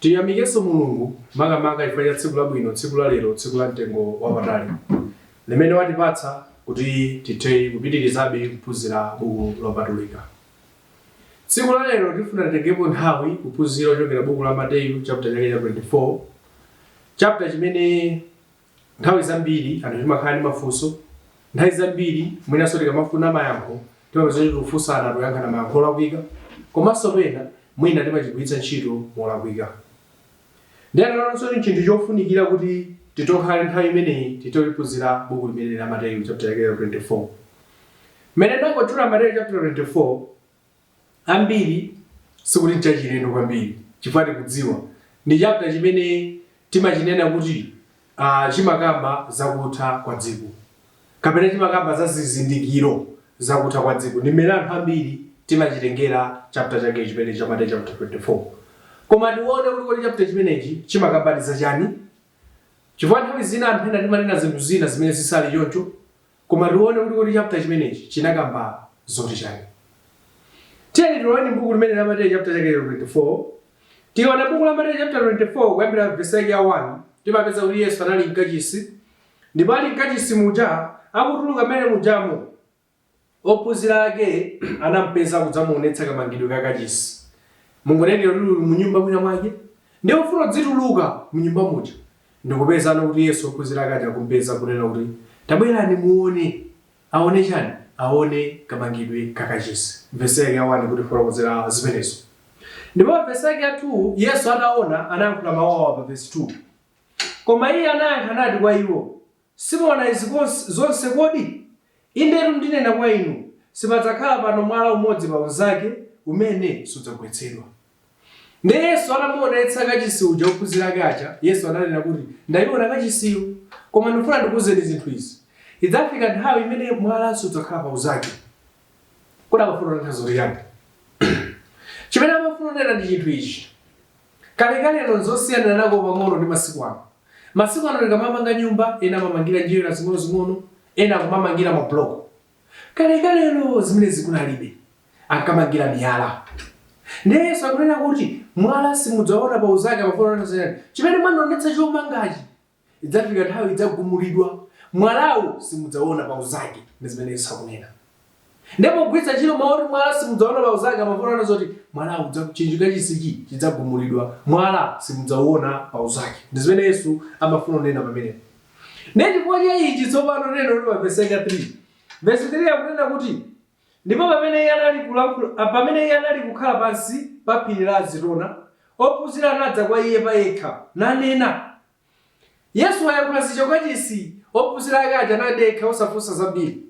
Tiyamikenso Mulungu makamaka chifukwa cha tsiku labwino, tsiku la lero, tsiku la mtengo wapatali limene watipatsa kuti tithe kupitirizabe kuphunzira buku lopatulika. Tsiku la lero tifuna titengepo nthawi kuphunzira kuchokera buku la Mateyu chapter chake cha 24 chapter chimene Nthawi zambiri anthu timakhala ndi mafunso. Nthawi zambiri mwinanso tikamafuna mayankho timapeza kuti tikufunsana, tikuyankhana mayankho olakwika komanso pena mwina timachigwiritsa ntchito molakwika. Ndiye tinaona kuti tsono n'chinthu chofunikira kuti titokhale nthawi imeneyi titophunzira buku limeneli la Mateyu chapter chake cha 24. Mmene ndangotchula Mateyu chapter 24, ambiri sikuti n'chachilendo kwambiri chifukwa tikudziwa ndi chapter chimene timachinena kuti ah, chimakamba za kutha kwa dziko kapena chimakamba za zizindikiro za kutha kwa dziko ndi mmene anthu ambiri timachitengera chapter chake chimene cha Mateyu chapter 24 koma tione kuti kodi chapter chimenechi chimakambadi za chani chifukwa nthawi zina anthu ena timanena zinthu zina zimene zisali choncho Koma tione kuti kodi chapter chimenechi chinakamba zoti chani. Tiyeni tione mbuku limene la Mateyu chapter chake cha 24. Tikaona mbuku la Mateyu chapter 24 kuyambira verse yake ya 1 timapeza kuti Yesu anali mkachisi ndipo ali mkachisi muja akutuluka mmene mujamo ophunzira ake anampeza kudzamuonetsa kamangidwe ka kachisi. Mongonena kuti uli munyumba mwina mwake ndi ufuna udzituluka munyumba muja Ndikupeza kuti Yesu ophunzira ake aja akumpeza kunena kuti, Tabwerani muone! Aone chani? Aone kamangidwe ka kachisi. Vesi yake ya 1 ikutifotokozera zimenezo. Ndipo pa vesi yake ya 2, Yesu ataona, anayankhula mawu awa pa vesi 2. Koma iye anayankha nati kwa iwo, Simuona izi zonse kodi? Indetu ndinena kwa inu, Sipadzakhala pano mwala umodzi pa unzake, umene sudzagwetsedwa. Ndiye Yesu atamuonetsa kachisi uja ophunzira ake aja, Yesu ananena kuti, Ndayiona kachisiyo, koma ndifuna ndikuuzeni zinthu izi, Idzafika nthawi imene mwala sudzakhala pa unzake. Kodi amafuna kunena tanthauzo chiyani? Chimene amafuna kunena ndi chinthu ichi. Kalekalelo n'zosiyanako pang'ono ndi masiku ano. Masiku ano tikamamanga nyumba, ena amamangira njerwa zing'onozing'ono, ena akumamangira mabuloko. Kalekalelo zimenezi kunalibe, ankamangira miyala. Ndiye Yesu akunena kuti, Mwala simudzaona pa unzake amafuna kunena zoti, Chimene mwandionetsa chomangachi, Idzafika nthawi idzagumulidwa, mwalawu simudzaona pa unzake, ndi zimene Yesu akunena. Nde pogwiritsa ntchito mau oti mwala simudzaona pa unzake amafuna kunena zoti mwalawu udza chinthu kachisichi chidzagumulidwa, mwala simudzauona pa unzake, ndi zimene Yesu amafuna kunena pamenepa. Nde chifukwa cha ichi tsopano tione kuti pa vesi yake ya 3. Vesi 3 akunena kuti. Ndipo pamene Iye anali kukhala pansi pa phiri la Azitona, ophunzira anadza kwa Iye pa yekha, nanena, Yesu wayankhula zicho kachisi, ophunzira ake aja anadekha osafunsa zambiri,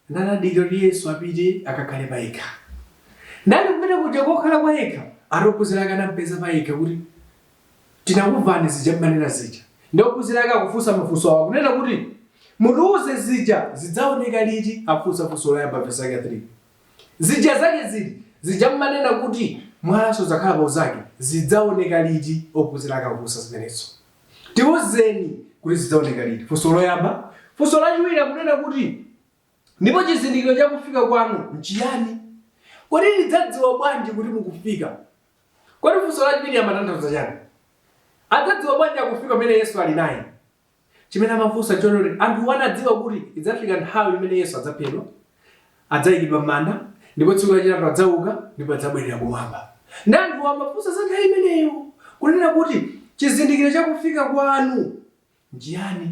nanadikira kuti Yesu apite akakhale pa yekha. Ndali kumene kuja kokhala kwayekha, ati ophunzira ake anampeza pa yekha kuti. Tinakumvani zija mmanena zija nde ophunzira ake akufunsa mafunso awa kunena kuti mutiuze zija zidzaoneka liti akufunsa funso loyamba vesi lake 3 zija zake ziti zija mmanena kuti mwala sudzakhala pa uzake zidzaoneka liti ophunzira ake akufunsa zimenezo tiuzeni kuti zidzaoneka liti funso loyamba funso lachiwiri akunena kuti Ndipo chizindikiro cha kufika kwanu nchiyani? Kodi tidzadziwa bwanji kuti mukufika? Kodi funso lachiwiri limatanthauza chani? Adzadziwa bwanji akufika pamene Yesu ali naye? Chimene amafunsa nchoti anthuwo anadziwa kuti idzafika nthawi imene Yesu adzaphedwa, adzaikidwa m'manda, ndipo tsiku lachitatu adzauka ndipo adzabwerera kumwamba. Nde anthuwo amafunsa za nthawi imeneyo, kunena kuti chizindikiro cha kufika kwanu nchiyani?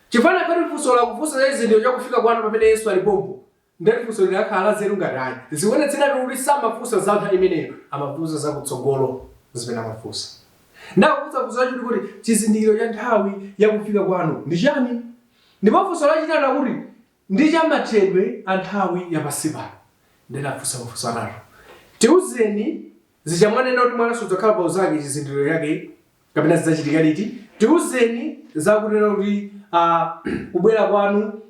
Chifukwa nkati funso la kufunsa za chizindikiro cha kufika kwanu pamene Yesu ali pompo, nde funso likanakhala la nzeru ngati ayi. Zikuonetseratu kuti samafunsa za nthawi imeneyo, amafunsa za kutsogolo nzimene amafunsa. Nde akufunsa funso lachiwiri kuti, chizindikiro cha nthawi ya kufika kwanu ndi chiyani? Ndipo funso lachitatu akuti, ndi cha mathedwe a nthawi ya pansi pano. Nde afunsa mafunso atatu. Tiuzeni Zija mwanena kuti mwala sudzakhala pa uzake chizindikiro chake kapena zidzachitika liti tiuzeni za kunena kuti ah, kubwera kwanu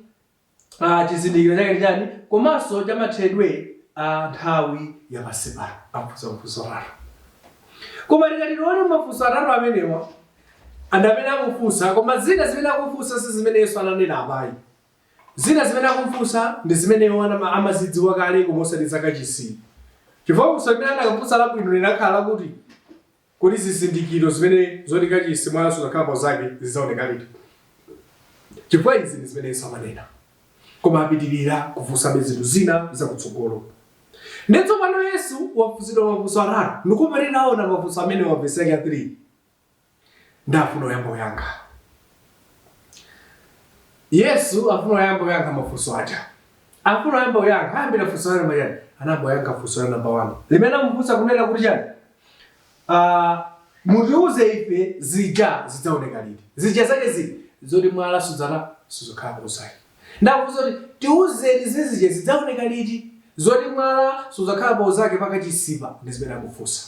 ah, chizindikiro chake ndi chani komanso chamathedwe a nthawi ya pansi pano afunsa mafunso atatu koma tikati tione mafunso atatu amenewa anthu amene akufunsa koma zina zimene akufunsa si zimene yesu ananena apayi Zina zimene akumfunsa ndi zimene iwo amazidziwa kale koma osati za kachisi, chifukwa funso limene akanafunsa labwino likanakhala lakuti, Kodi zizindikiro zimene zoti kachisi mwala sudzakhala pa unzake zidzaoneka liti? Chifukwa izi ndi zimene Yesu amanena. Koma apitirira kufunsabe zinthu zina za kutsogolo. Ndiye tsopano Yesu wafunsidwa mafunso atatu, ndiye pa titaona mafunso amenewa vesi yake ya 3. ndafuna oyamba kuyankha yesu afuna oyamba kuyankha mafunso aja afuna oyamba kuyankha ayambira funso la namba chani anayamba kuyankha funso la namba wani limene amufunsa kunena kuti chani Ah, mutiuze ife zija zidzaoneka liti zija zake ziti zoti mwala sudzakhala pa uzake nde akufunsa kuti tiuzeni zija zidzaoneka liti zoti mwala sudzakhala pauzake pakachisipa ndi zimene akufunsa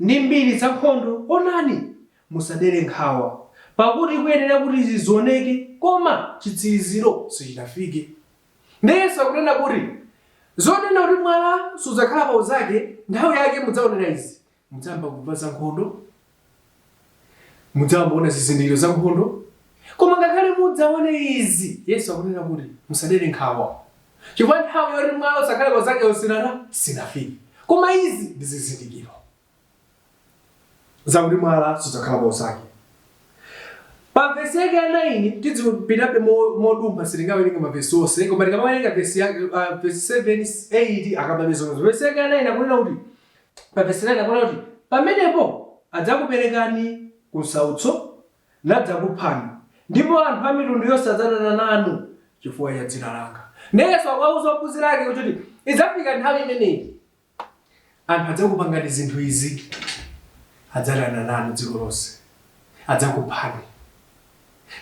ndi mbiri za nkhondo, onani, musadere nkhawa, pakuti kuyenera kuti izi zioneke, koma chitsiriziro sichinafike. Ndiye Yesu akunena kuti zonena kuti mwala sudzakhala pa unzake, nthawi yake mudzaonera izi, mudzayamba kumva za nkhondo, mudzayamba kuona zizindikiro za nkhondo koma ngakhale mudzaone izi yesu akunena kuti musadere nkhawa chifukwa nthawi yoti mwala usakhale pa unzake si- sinafike koma izi ndi zizindikiro zakuti mwala sudzakhala pa unzake pa vesi yake ya 9 tidzipitabe mo- modumpha sitingawerenge mavesi onse koma tikamawerenga vesi yake ah, vesi 7 8 akambabe zonse vesi yake ya 9 akunena kuti Pa vesi 9 akunena kuti, Pamenepo adzakuperekani kunsautso, nadzakuphani, ndipo anthu a mitundu yonse adzadana nanu chifukwa cha dzina langa. Ndiye Yesu akuwauza ophunzira ake kuti idzafika nthawi imeneyi, anthu adzakupangani zinthu izi, adzadana nanu dziko lonse, adzakuphani,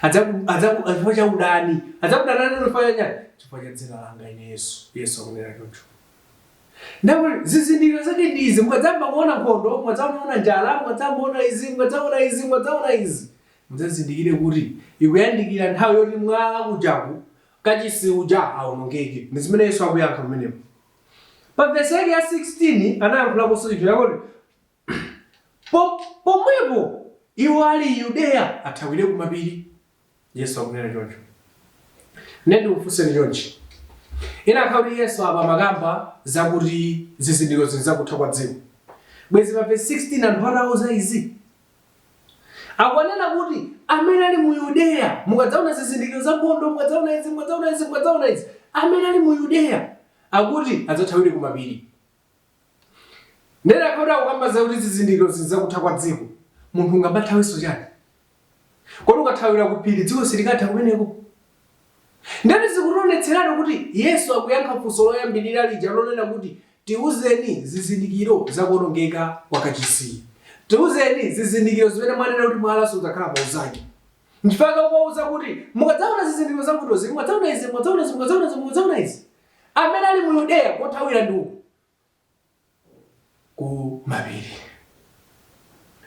adzaku, adzaku, chifukwa cha udani, adzakudana nanu chifukwa cha chani? Chifukwa cha dzina langa ine Yesu. Yesu akunena choncho. Ndipo zizindikiro zake ndi izi, mukadzayamba kuona nkhondo, mukadzaona njala, mukadzaona izi, mukadzaona izi, mukadzaona izi, mudzazindikire kuti ikuyandikira nthawi yoti mwala kujaku, kachisi uja awonongeke. Ndi zimene Yesu akuyankha pamenepo. Pa vesi yake ya 16 anayankhulaponso chinthu chakuti Pomwepo iwo ali m'Yudeya athawire kumapiri, Yesu akunena choncho. Ndiyeno ndikufunseni chonchi, Inakakhala kuti Yesu apa amakamba zakuti zizindikiro izi ndi zakutha kwa dziko. Bwezi pa vesi 16 anthu atawauza izi, akunena kuti amene ali mu Yudeya, mukadzaona zizindikiro za nkhondo, mukadzaona izi, mukadzaona izi, mukadzaona izi, amene ali mu Yudeya, akuti adzathawire kumapiri. Ndiye anakakhala kuti akukamba zakuti zizindikiro izi ndi za kutha kwa dziko, munthu ungathawenso chani? Kodi ukathawira ku phiri dziko silikatha kumeneko? Ndiyeno zikutionetseratu kuti Yesu akuyankha funso loyambirira lija lonena kuti tiuzeni zizindikiro za kuonongeka kwa kachisi. Tiuzeni zizindikiro zimene mwanena kuti mwala sudzakhala pa unzake. Nchifukwa chake akuwauza kuti mukadzaona zizindikiro za nkhondozi, mukadzaona izi, mukadzaona izi, mukadzaona izi, mukadzaona izi. Amene ali mu Yudeya, kothawira ndi uku ku mapiri.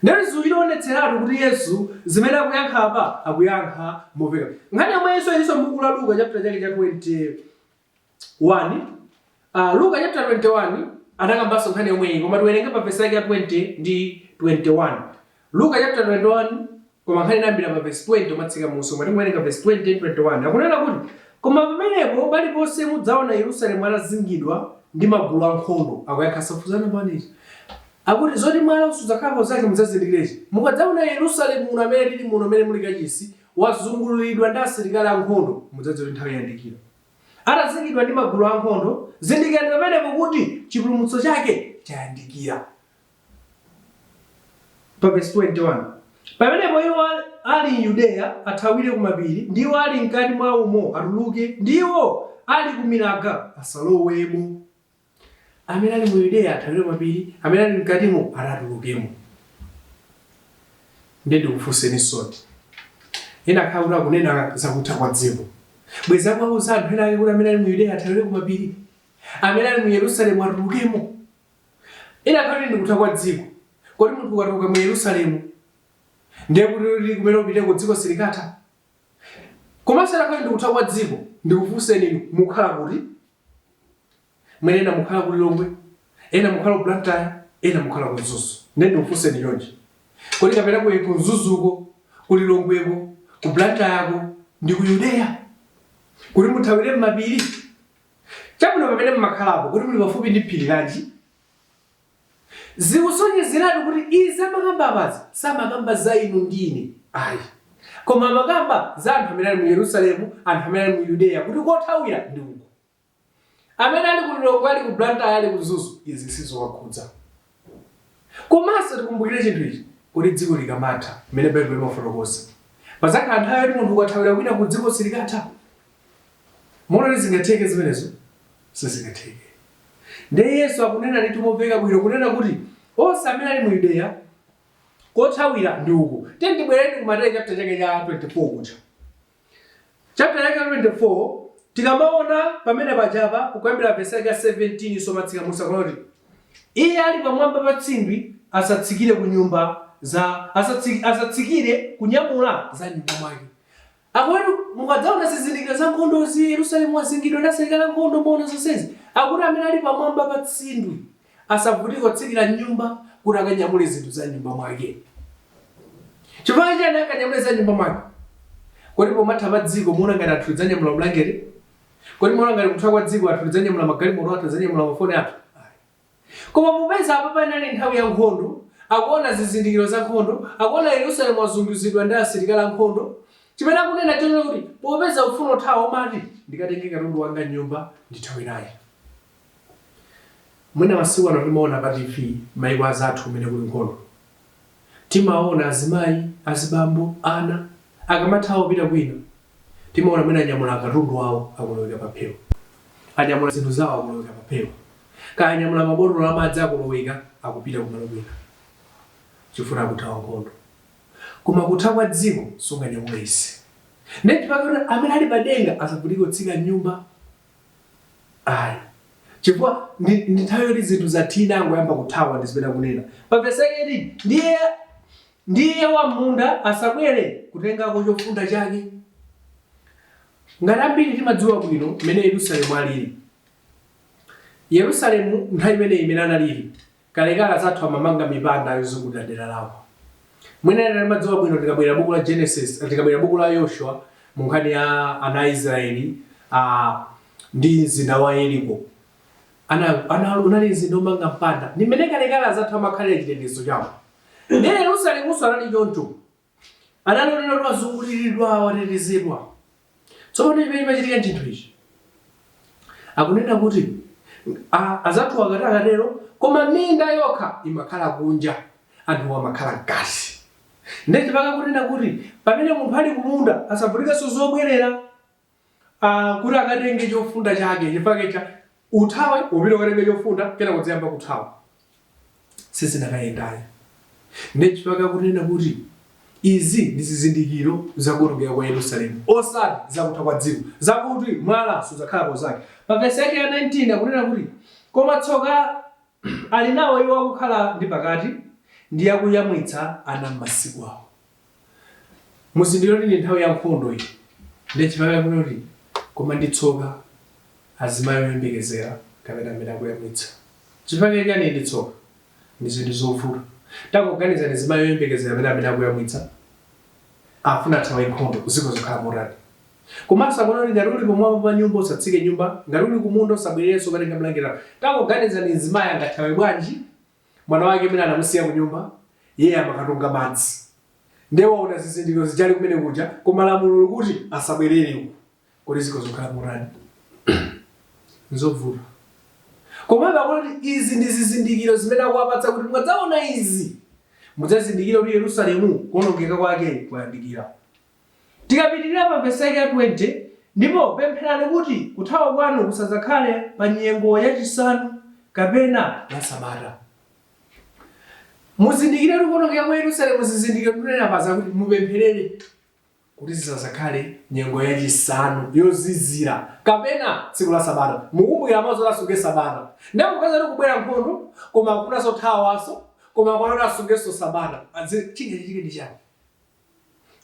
Ndiye zikutionetseratu kuti Yesu zimene akuyankha apa akuyankha mopeka. Nkhani yomweyinso ilinso m'buku la Luka chaputala chake cha 21. A Luka chaputala 21 anakambanso nkhani yomweyi koma tiwerenge pa vesi yake ya 20 ndi 21. Luka chaputala 21, koma nkhani inayambira pa vesi 20 kumatsika munsi koma tiwerenga vesi 20 ndi 21. Akunena kuti, Koma pamenepo paliponse mudzaona Yerusalemu atazingidwa ndi magulu ankhondo, akuyankhanso funso la namba 1 lija. Akuti, zoti mwalawo sudzakhala pa unzake mudzazindikire ichi, Mukadzaona Yerusalemu muno amene tili muno mmene muli kachisi, wazungulidwa ndi asilikali ankhondo, mudzadziwe kuti nthawi yayandikira. Atazingidwa ndi magulu ankhondo, zindikirani pamenepo kuti chipulumutso chake chayandikira. Pa vesi 21 Pamenepo iwo ali m'Yudeya athawire kumapiri, ndi iwo ali m'kati mwa umo atuluke, ndi iwo ali kumilaga asalowemo. Amene ali mu Yudeya athawire kumapiri, amene ali m'katimo ati atulukemo. Ndiye ndikufunseninsoni, inakakhala kuti akunena za kutha kwa dziko, bwenzi akuwauza anthu ena ake kuti amene ali mu Yudeya athawire kumapiri, amene ali mu Yerusalemu atulukemo. Inakakhala kuti ndikutha kwa dziko. Kodi munthu ukatuluka mu Yerusalemu ndiye kuti kuti kumene upiteko dziko silikatha? Komanso inakakhala ndikutha kwa dziko. Ndikufunseni inu, mukhala kuti? Mwina ena mukhala ku Lilongwe, ena mukhala ku Blantyre, ena mukhala ku Mzuzu. Ndiye ndikufunseni chonchi. Kodi kapena ku ku Mzuzuko, ku Lilongweko, ku Blantyre'ko ndi ku Yudeya? Kuti muthawire m'mapiri? Chabwino, pamene mumakhalapo, kodi muli pafupi ndi phiri lanji? Zikusonyezeratu kuti izi amakamba apazi samakamba za inu ndi ine ayi, koma amakamba za anthu amene ali mu Yerusalemu, anthu amene ali mu Yudeya kuti kothawira ndi uku. Amene ali ku Lilongwe, ali ku Blantyre, ali ku Mzuzu, izi sizowakhudza. Komanso tikumbukire chinthu ichi, kodi dziko likamatha, mmene Baibulo limafotokozera, padzakhala nthawi yoti munthu ukathawira kwinaku dziko silikatha. Muona ngati zingatheke zimenezo? Sizingatheke. Ndiye Yesu akunena ndithu momveka bwino kunena kuti onse amene ali mu Yudeya kothawira ndi uku. Tiyeni tibwerere ku Mateyu chapter chake cha 24 kuja. Chapter yake ya 24, tikamaona pamene pajapa, kuyambira verse yake ya 17 kumatsika munsi akunena kuti iye ali pamwamba pa tsindwi asatsikire ku nyumba za asatsi, asatsikire kunyamula za nyumba mwake akuti mukadzaona zizindikiro za nkhondozi yerusalemu wazingidwa ndi asilikali ankhondo mwaona zonsezi akuti amene ali pamwamba pa tsindwi asavutike kutsikira m'nyumba kuti akanyamule zinthu za m'nyumba mwake. Chifukwa chiyani akanyamule za m'nyumba mwake? Kodi pomatha pa dziko muona ngati anthu tidzanyamula mabulangeti? Kodi muona ngati kutha kwa dziko anthu tidzanyamula magalimoto athu, tidzanyamula mafoni athu? Ayi. Koma popeza apa panali nthawi ya nkhondo, akuona zizindikiro za nkhondo, akuona Yerusalemu wazunguzidwa ndi asilikali a nkhondo, chimene akunena nchonena kuti popeza ufuna kuthawa umati, ndikatenge katundu wanga m'nyumba ndithawe naye. Mwina masiku ano timaona pa TV maiko azathu kumene kuli nkhondo. Timaona azimai, azibambo, ana akamathawa kupita kwina. Timaona mwina anyamula katundu wawo akoloweka pa phewa. Anyamula zinthu zawo akoloweka pa phewa. Kaya anyamula mabotolo amadzi akoloweka akupita kumalo kwina chifukwa akuthawa nkhondo. Koma kutha kwa dziko sunganyamule izi. Ndiye chifukwa chake amene ali pa denga asavutike kutsika mnyumba. Ayi. Chifukwa ndi, ndi nthawi yoti zinthu zathina angoyamba kuthawa ndi zimene akunena. Pa vesi yake 18 ndiye wam'munda asabwere kutengako chofunda chake. Ngati ambiri timadziwa bwino mmene Yerusalemu alili. Yerusalemu nthawi imeneyi imene analili Kalekale azathu amamanga mipanda yozungulira dera lawo. Mwina ena timadziwa bwino tikawerenga buku la Genesis, tikawerenga buku la Yoshua mu nkhani ya ana a Israeli ndi mzinda wa Yeriko. Ana, ana unali mzinda omanga mpanda. Ndi mmene kalekale azathu amakhalira chitetezo chawo. Ndi Yerusalemunso anali choncho. Anali onena kuti wazunguliridwa, watetezedwa. Tsopano chimene chimachitika n'chinthu ichi. Akunena kuti a- azathuwa akati akatero, koma minda yokha imakhala kunja, anthuwo amakhala mkati. Ndiye chifukwa chake akunena kuti pamene munthu ali kumunda asavutikenso zobwerera. a kuti akatenge chofunda chake chifukwa cha uthawe upite ukatenge chofunda kenako udziyamba kuthawa sizinakayendayo ndiye chifukwa chake akunena kuti izi ndi zizindikiro za kuwonongeka kwa yerusalemu osati za kutha kwa dziko zakuti mwala sudzakhala pa unzake pa vesi yake ya 19 akunena kuti koma tsoka ali nawo iwo akukhala ndi pakati ndi akuyamwitsa ana m'masiku awo Muzindikira kuti ndi nthawi ya nkhondo iyi. Ndiye chifukwa chake akunena kuti, Koma ndi tsoka azimayi oyembekezera kapena amene akuyamwitsa. Chifukwa chake chiyani ndi tsoka? Ndi zinthu zovuta. Tangoganizani mzimayi oyembekezera kapena amene akuyamwitsa afuna athawe nkhondo, zikhoza kukhala motani? Komanso akunena kuti ngati uli pamwamba pa nyumba usatsike mnyumba, ngati uli kumunda usabwererenso kukatenga bulangeti lako. Tangoganizani mzimayi angathawe bwanji mwana wake amene anamusiya kunyumba iye amakatunga madzi ndiye waona zizindikiro zija ali kumene kuja koma lamulo likuti asabwerere uko kodi zikhoza kukhala motani nzovuta komabe akuti izi ndi zizindikiro zimene akuwapatsa kuti mukadzaona izi mudzazindikire kuti yerusalemu kuonongeka kwake kwayandikira Tikapitirira pa vesi yake ya 20, Ndipo pempherani kuti kuthawa kwanu kusadzakhale pa nyengo ya chisanu kapena la sabata. Muzindikire kuti kuonongeka kwa Yerusalemu zizindikiro tunena paja kuti mupempherere kuti zisadzakhale nyengo ya chisanu yozizira kapena tsiku la sabata. Mukumbukira mawu zoti asunge sabata. Ndiye popeza kuti kubwera nkhondo koma akufunanso athawenso koma akufuna asungenso sabata. Chingachitike ndi chani?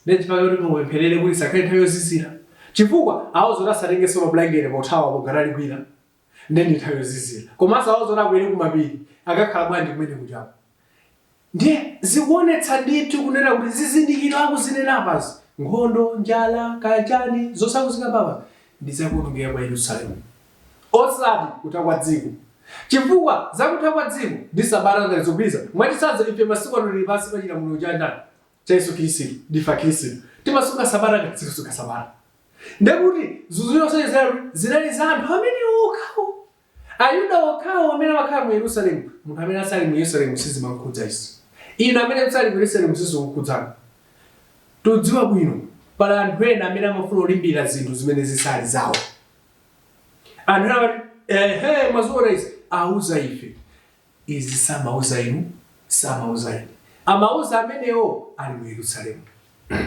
Ndiye chifukwa choti mupempherere kuti isakhale nthawi yozizira. Chifukwa awauza kuti asatengenso mabulangete pothawa apo ngati ali kwina. Ndiye ndi nthawi yozizira. Komanso awauza kuti akwere kumapiri. Akakhala bwanji kumene kujako? Ndiye zikuonetsa ndithu kunena kuti zizindikiro akuzinena apazi, nkhondo, njala, kaya chani, zosauzika apapa, ndi za kuonongeka kwa Yerusalemu. Osati kutha kwa dziko. Chifukwa za kutha kwa dziko ndi sabata sizikugwirizana. Mwachitsanzo, ife masiku ano tili pansi pa chilamuliro cha ndani? cha Yesu Khristu ndife Akhristu timasunga sabata ayi sitikusunga sabata ndekuti zinthu zonse zija zinali za anthu amene okhawo ayuda okhawo amene amakhala mu yerusalemu munthu amene asali mu yerusalemu sizimamukhudza izi inu amene musali mu yerusalemu sizikukhudzani tikudziwa bwino pali anthu ena amene amafuna kulimbira zinthu zimene zisali zawo anthu ena amati ehe mwaziona izi auza ife Izi samauza inu, samauza ine. Amauza amenewo ali mu Yerusalemu,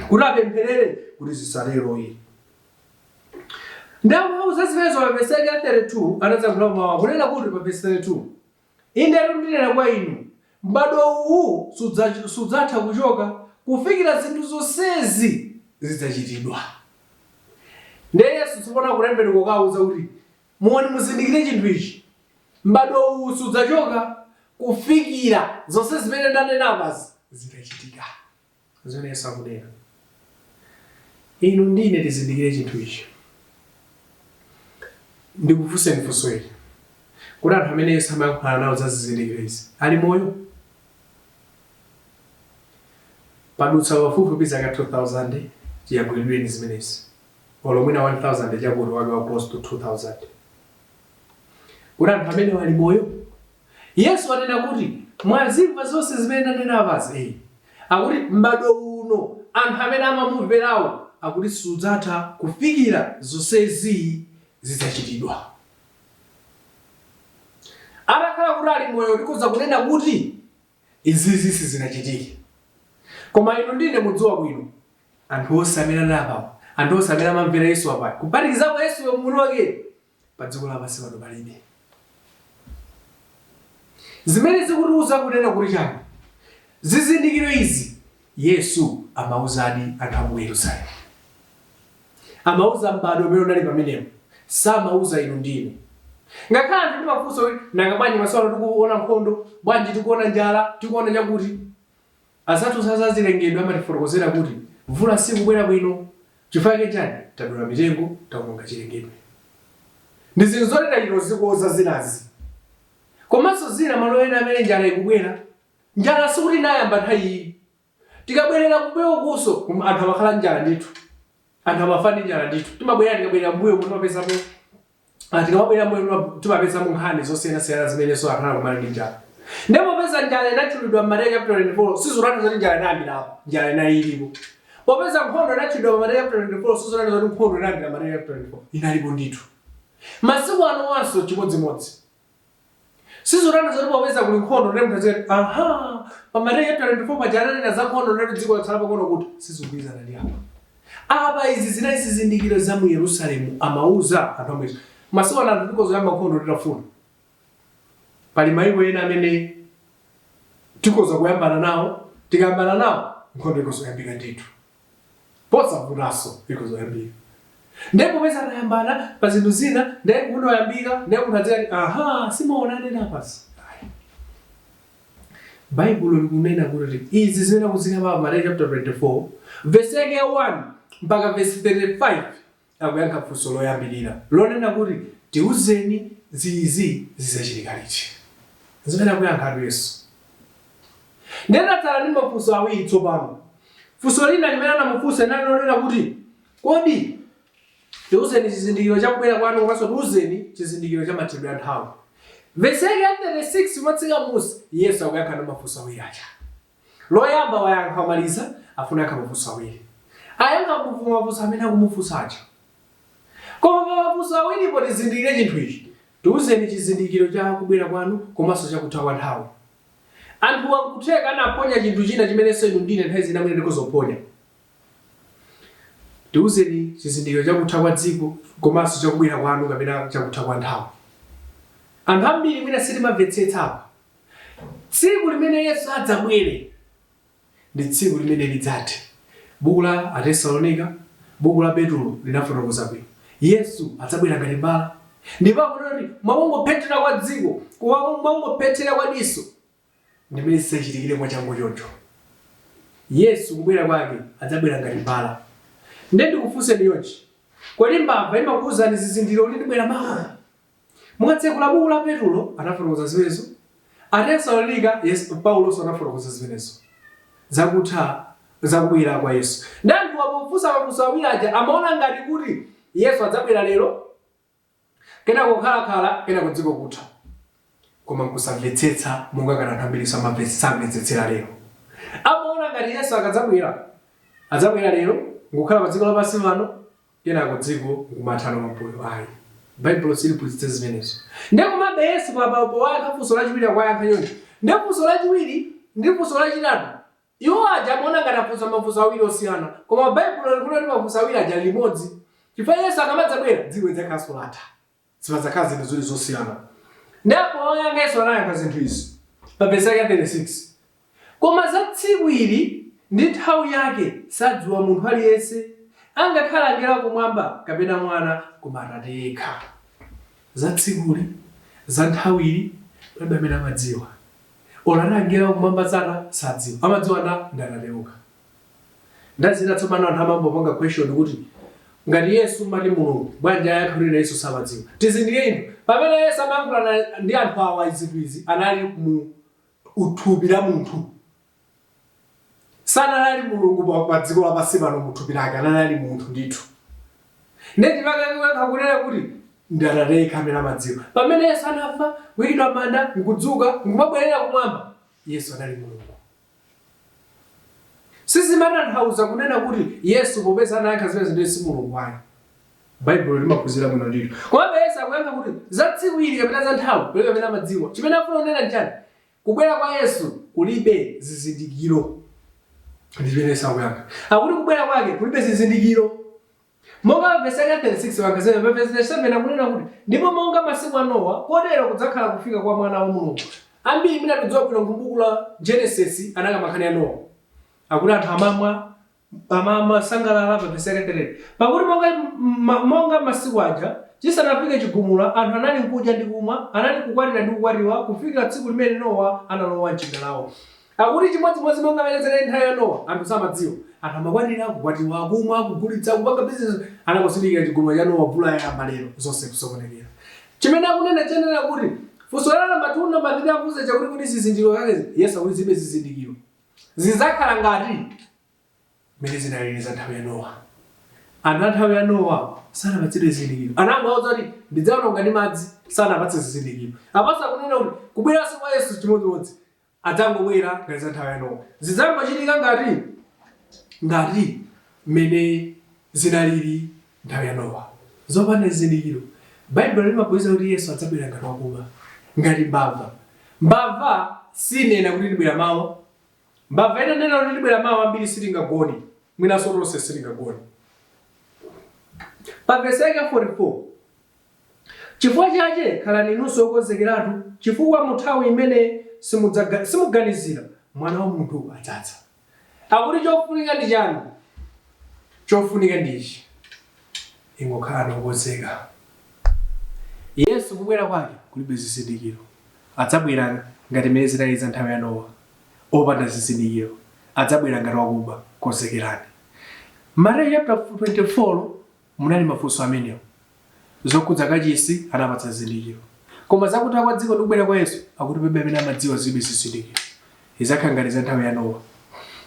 kuti apempherere kuti zisatero yi. Ndipo atawauza zimenezo pa vesi yake ya 32, anadzayankhulapo mawu kunena kuti pa vesi 32, Indetu ndinena kwa inu, m'badwo uwu sudza, sudzatha kuchoka kufikira zinthu zonsezi zidzachitidwa. Ndiye Yesu tsopano akutembenuka kukawauza kuti, Muone, muzindikire chinthu ichi, m'badwo uwu sudzachoka kufikira zonse zimene ndanena apazi zitachitika. Zimene Yesu akunena, Inu ndi ine tizindikire chinthu ichi. Ndikufunseni funso ili, Kodi anthu amene Yesu amayankhula nawo za zizindikiro izi ali moyo? Padutsa pafupifupi zaka 2,000 chiyankhulidwireni zimenezi. olo mwina 1000 chakuti wake close to 2000 kodi anthu amenewo ali moyo yesu anena kuti mwazimva zonse zimene ndanena apazi eyi akuti m'bado uno anthu amene amamumverawo akuti sudzatha kufikira zonsezi zidzachitidwa atakhala kuti ali moyo tikhoza kunena kuti izizi sizinachitike koma inu ndine mukudziwa bwino Anthu onse amene anali apawa, anthu onse amene amamvera Yesu apayu, kuphatikizapo Yesuyo mwini wakeyo, pa dziko lapansi pano palibe. Zimene zikutiuza kunena kuti chani? Zizindikiro izi Yesu amauzadi anthu a mu Yerusalemu. Amauza m'bado umene unali pamenepo, samauza inu ndi ine. Ngakhale anthu timafunsa kuti nanga bwanji masiku ano tikuona nkhondo, bwanji tikuona njala, tikuona chakuti? Azathu a zazilengedwe amatifotokozera kuti mvula sikubwera bwino chifukwa chake nchani? Tadula mitengo, taononga chilengedwe ndi zinthu zoti tachita kuzikonza zinazi. Komanso zina malo ena amene njala ikubwera, njala sikuti inayamba nthawi iyi. Tikabwerera kumbuyokunso kum anthu amakhala ndi njala ndithu. Anthu amafa ndi njala ndithu. Timabwerera tikabwerera mmbuyomu timapezamo. Ah, tikamabwerera m'mbuyo tima- timapezamo nkhani zosiyanasiyana zimenenso akhala akukumana ndi njala ndiye popeza njala inatchulidwa m'Mateyu chapter 24 sizotanthauza zoti njala inayambira apo njala inali ilipo popeza nkhondo inatchulidwa pa Mateyu chapter 24 sizotanthauza zoti nkhondo inayambira Mateyu chapter 24 inalipo ndithu masiku anowanso chimodzimodzi Sizotanthauza zoti popeza kuli nkhondo ndiye munthu azikati aha pa Mateyu chapter 24 paja ananena za nkhondo ndiye kuti dziko latsala pang'ono kutha, sizikugwirizana ndi apa. Apa izi zinali zizindikiro za mu Yerusalemu amauza anthu omwewo. Masiku ano anthu tikhoza kuyamba nkhondo titafuna. Pali mayiko ena amene tikhoza kuyambana nawo tikayambana nawo nkhondo ikhoza kuyambika ndithu. posavutanso ikhoza kuyambika ndiye popeza anayambana pa zinthu zina ndiye nkhondo yayambika ndiye kuno azikati aha simwaona ananena apa si baibulo likunena kuti izi zimene akuzikamba pa Mateyu chapter 24 vesi yake ya 1 mpaka vesi 35 akuyankha funso loyambirira lonena kuti, Tiuzeni, izizi zidzachitika liti? N'zimene akuyankhatu Yesu. Ndiye tatsala ndi mafunso awiri tsopano. Funso lina limene anamufunsa linali lonena kuti, Kodi tiuzeni chizindikiro cha kubwera kwanu komanso tiuzeni chizindikiro cha mathedwe a nthawi. Vesi yake ya 36 motsika m'munsi, Yesu akuyankha ndi mafunso awiri aja. Loyamba wayankha wamaliza afuna ayankhe mafunso awiri. Ayankha mafunso amene akumufunsa aja. Koma pa mafunso awiripo tizindikire chinthu ichi, Tiuzeni chizindikiro cha kubwera kwanu komanso cha kutha kwa nthawi. Anthuwa n'kutheka anaphonya chinthu china chimenenso inu ndi ine nthawi zina mwina tikhoza kuphonya. Tiuzeni chizindikiro cha kutha kwa dziko komanso cha kubwera kwanu kapena cha kutha kwa nthawi. Anthu ambiri mwina sitimamvetsetsa apa. Tsiku limene Yesu adzabwere ndi tsiku limene lidzathe. Buku la Atesalonika, buku la Petulo linafotokoza bwino. Yesu adzabwera ngati mbala. Ndipo akunena kuti mwa kungophethira kwa diso, kwa kungophethira kwa diso, ndimene zidzachitikire mwachangu choncho. Yesu kubwera kwake adzabwera ngati mbala. Ndiye ndikufunseni chonchi, Kodi mbava imakuuzani zizindikiro kuti ndibwera mawa? Mukatsegula buku la Petulo anafotokoza zimenezo, Atesalonika, Paulonso anafotokoza zimenezo za kutha za kubwera kwa Yesu. Ndiye anthuwa pofunsa mafunso awiri aja amaona ngati kuti Yesu adzabwera lero, kenako kukhalakhala, kenako dziko kutha. Koma nkusamvetsetsa monga ngati anthu ambiri samamve- samvetsetsera lero. Amaona ngati Yesu akadzabwera, adzabwera lero, nkukhala pa dziko lapansi pano, kenako dziko nkumathano pambuyo ayi baibulo siliphunzitsa zimenezo nde komabe yesu apa powayankha funso lachiwiri akuwayankha choncho nde funso lachiwiri ndi funso lachitatu iwo aja amaona ngati afunsa mafunso awiri osiyana koma baibulo likunena kuti mafunso awiri aja ndi limodzi chifukwa yesu akamadzabwera dziko lidzakhalanso latha Sipadzakhala zinthu ziwiri zosiyana. Ndiye apo poyankha Yesu anayankha zinthu izi pa vesi yake ya 36. Koma za tsiku ili ndi nthawi yake sadziwa munthu aliyense, angakhale angelo a kumwamba kapena Mwana, koma Atate yekha. Za tsikuli, za nthawi ili, palibe amene amadziwa. Olo ana angelo a kumwamba sata, sadziwa. Amadziwa ndani? Ndi Atate okha. Ndiye ena tsopano anthu amampanga question kuti ngati Yesu anali Mulungu bwanji ayankhe kunena Yesu samadziwa. Tizindikire chinthu pamene Yesu amayankhulana ndi anthu awa zinthu izi anali mu thupi la munthu. Sanali ali Mulungu pa, pa dziko lapansi pano mu thupi lake anali ali munthu ndithu. Ndiye chifukwa akuyankha kunena kuti ndi atate yekha amene amadziwa. Pamene Yesu anafa, kuyikidwa m'manda, nkudzuka, nkumabwerera kumwamba, Yesu anali Mulungu. Sizimatanthauza kunena kuti Yesu popeza anayankha zimenezo ndiye si Mulungu ayi. Baibulo limaphunzitsa bwino ndithu. Komabe Yesu akuyankha kuti za tsiku ili kapena za nthawi palibe amene amadziwa. Chimene akufuna kunena n'chani? Kubwera kwa Yesu kulibe zizindikiro. Ndi chimene Yesu akuyankha. Akuti kubwera kwake kulibe zizindikiro. Monga pa vesi yake ya 36 pa Gazeta, pa vesi 37 akunena kuti, Ndipo monga masiku a Nowa, kotero kudzakhala kufika kwa Mwana wa Mulungu. Ambiri mwina tikudziwa bwino kuti m'buku la Genesis anakamba nkhani ya Nowa. Akuti anthu amamwa, amasangalala, pa vesi yake 3. Pakuti monga, ma, monga masiku aja, chisanafike chigumula, anthu anali nkudya ndi kumwa, anali kukwatira ndi kukwatiwa, kufikira tsiku limene Nowa analowa m'chingalawa. Akuti chimodzimodzi monga mmene zinali nthawi ya Nowa, anthu samadziwa. Anthu amakwatira, kukwatiwa, kumwa, kugulitsa, kupanga bizinesi. Anangozindikira chigumula cha Nowa, mvula yayamba lero, zonse kusokonekera. Chimene akunena chenicheni kuti, Funso la namba 2, namba 3 akufunsa chakuti kodi zizindikiro zake ndi ziti? Yesu akuti zilibe zizindikiro. Zidzakhala ngati mmene zinalili za nthawi ya Nowa. Anthu a nthawi ya Nowa sanapatsidwe zizindikiro. Anangowauza kuti ndidzaononga ndi madzi, sanapatse zizindikiro. Apanso akunena kuti kubweranso kwa Yesu chimodzimodzi. adzangobwera ngati za nthawi ya Nowa. Zidzangochitika ngati, ngati mmene zinaliri nthawi ya Nowa, zopanda zizindikiro. Baibulo limaphunzitsa kuti Yesu adzabwera ngati wakuba, ngati mbava. Mbava sinena kuti ndibwera mawa. Mbava itanena kuti ndibwera mawa, ambiri sitingagone, mwinanso tonse sitingagone. Pa vesi yake ya 44, Cifukwa cace khalani inunso okonzekeratu, cifukwa munthawi imene simudzaga, simuganizira, Mwana wa munthu adzadza. Akuti cofunika ndi cani? Cofunika ndi ichi, ingokhalani okonzeka. Yesu kubwera kwake kulibe zizindikiro. Adzabwera ngati mmene zinaliri za nthawi ya Nowa, opanda zizindikiro. Adzabwera ngati wakuba. Konzekerani. Mateyu chaputala 24. Munali mafunso amenewo. Zokhudza kachisi, anapatsa zizindikiro. Koma za kutha kwa dziko ndi kubwera kwa Yesu, akuti palibe amene amadziwa zilibe zizindikiro. Izakhala ngati za nthawi ya Nowa.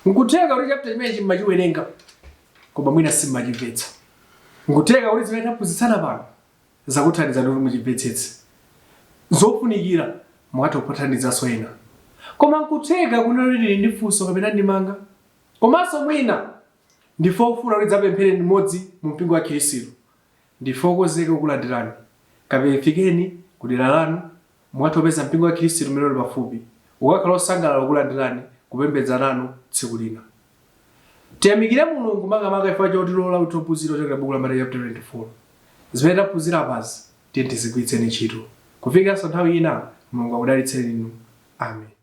Nkutheka kuti chapter chimenechi mmachiwerenga, koma mwina simmachimvetsa. Nkutheka kuti zimene taphunzitsana pano, zakuthandizani kuti muchimvetsetse. Zofunikira, mukatha kukathandizanso ena. Koma nkutheka kuti muli ndi funso kapena ndemanga, komanso mwina Ndinu ofuna kuti tidzapemphere limodzi mu mpingo wa Khirisitu. Ndife okonzeka kukulandirani. Kapena fikeni ku dera lanu, mukatha kupeza mpingo wa Khirisitu umene uli pafupi. Ukakhala wosangalala kukulandirani, kupembedza nanu tsiku lina. Tiyamikire Mulungu makamaka chifukwa chotilola kuti tiphunzire kuchokera buku la Mateyu chaputala 24. Zimene taphunzira apazi, tiyeni tizigwiritseni ntchito. Kufikiranso nthawi ina, Mulungu akudalitseni inu. Amen.